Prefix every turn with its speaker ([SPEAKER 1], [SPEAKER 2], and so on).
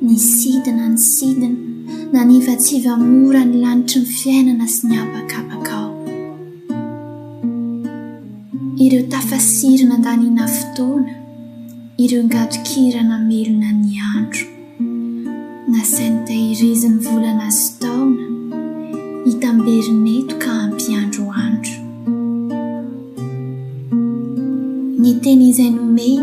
[SPEAKER 1] Nisidina ny sidina, nanivatsiva mora ny lanitry ny fiainana sy ny habakabaka ao. Ireo tafasiry nandaniana fotoana, ireo ngadon-kira namelona ny andro. Nasainy tahiriziny volana sy taona, hitamberina eto ka hampiandro andro. Ny teny izay nomeny.